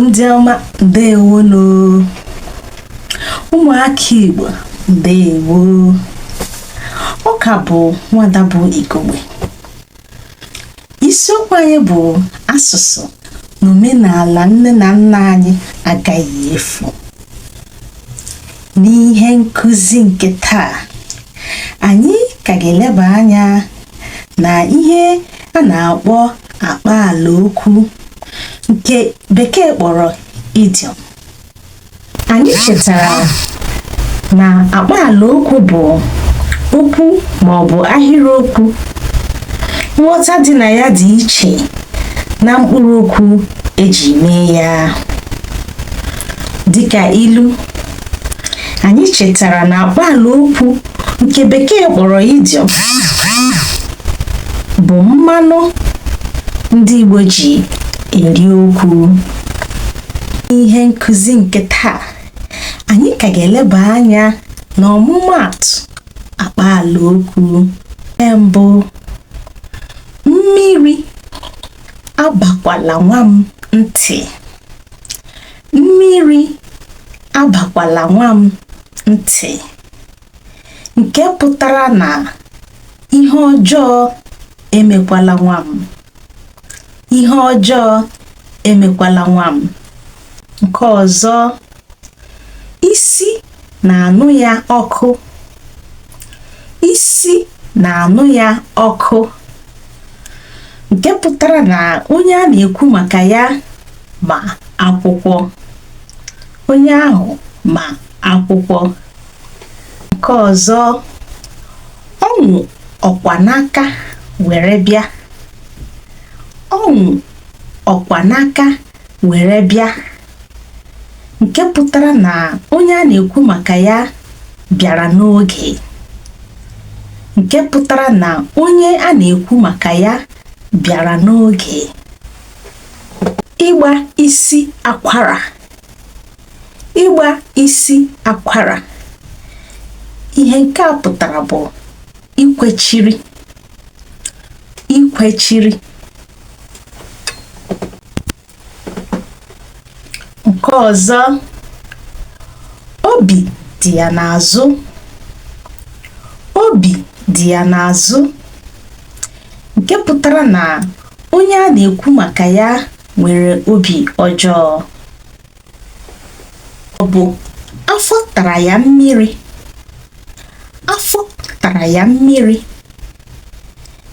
ndị ọma ndewonụ ụmụaka igbo ndewo ọ ka bụ nwada bụ igogbe isiokwu anyị bụ asụsụ na omenala nne na nna anyị agaghị efu n'ihe nkụzi nke taa anyị ka ga-eleba anya na ihe a na-akpọ akpaala okwu nke bekee kpọrọ idiom anyị chetara na akpaala okwu bụ okwu ma ọ bụ ahịrịokwu nghọta dị na ya dị iche na mkpụrụ okwu e ji mee ya dịka ilu anyị chetara na akpaala okwu nke bekee kpọrọ idiom bụ mmanụ ndị Igbo ji eri okwu ihe nkụzi nke taa anyị ka ga-eleba anya na ọmụmaatụ akpaala okwu nke mbụ mmiri abakwala nwa m ntị mmiri abakwala nwa m ntị nke pụtara na ihe ọjọọ emekwala nwa m ihe ọjọọ emekwala nwa m nke ọzọ isi na-anụ ya ọkụ isi na-anụ ya ọkụ nke pụtara na onye a na-ekwu maka ya ma akwụkwọ onye ahụ ma akwụkwọ nke ọzọ ọ nwụ ọkwa n'aka were bịa ọ nwụ ọkwa n'aka were bịa nke pụtara na onye a na-ekwu maka ya bịara n'oge nke pụtara na onye a na-ekwu maka ya bịara n'oge ịgba isi akwara ịgba isi akwara ihe nke a pụtara bụ ikwechiri ikwechiri nke ọzọ obi dị ya n'azụ obi dị ya n'azụ nke pụtara na onye a na-ekwu maka ya nwere obi ọjọọ ọ bụ afọ tara ya mmiri afọ tara ya mmiri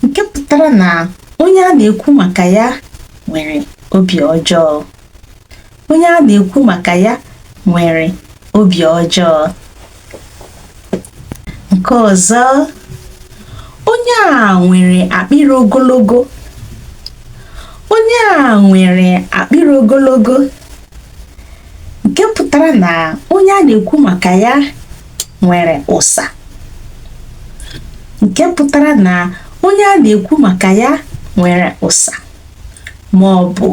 nke pụtara na onye a na-ekwu maka ya nwere obi ọjọọ onye a na-ekwu maka ya nwere obi ọjọọ nke ọzọ onye a nwere akpịrị ogologo onye a nwere akpịrị ogologo nke pụtara na onye a na-ekwu maka ya nwere ụsa nke pụtara na onye a na-ekwu maka ya nwere ụsa ma ọ bụ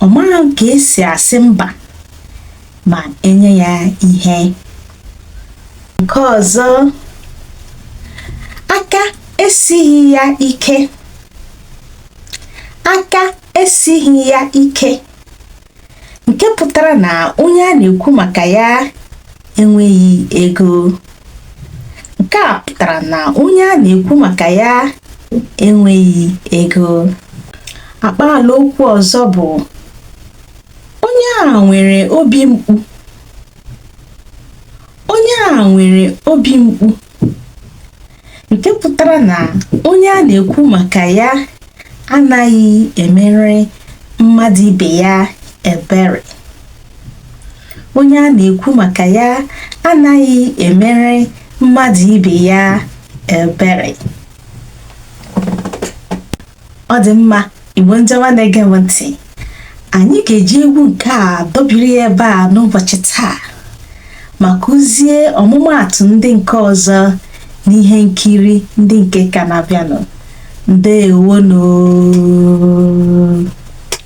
ọ maghị ka esi asị mba ma enye ya ihe nke ọzọ aka esighị ya ike aka esighị ya ike nke pụtara na onye a na-ekwu maka ya enweghị ego nke a pụtara na onye a na-ekwu maka ya enweghị ego akpaala okwu ọzọ bụ Onye a nwere obi mkpu. Onye a nwere obi mkpu. Nke pụtara na onye a na-ekwu maka ya anaghị emere mmadụ ibe ya ebere. Onye a na-ekwu maka ya anaghị emere mmadụ ibe ya ebere. ọ dị mma igbo ndị ọma na-ege m ntị anyị ga-eji egwu nke a dobiri ya ebe a n'ụbọchị taa ma kụzie ọmụmaatụ ndị nke ọzọ n'ihe nkiri ndị nke ka na-abịanụ ndewonụ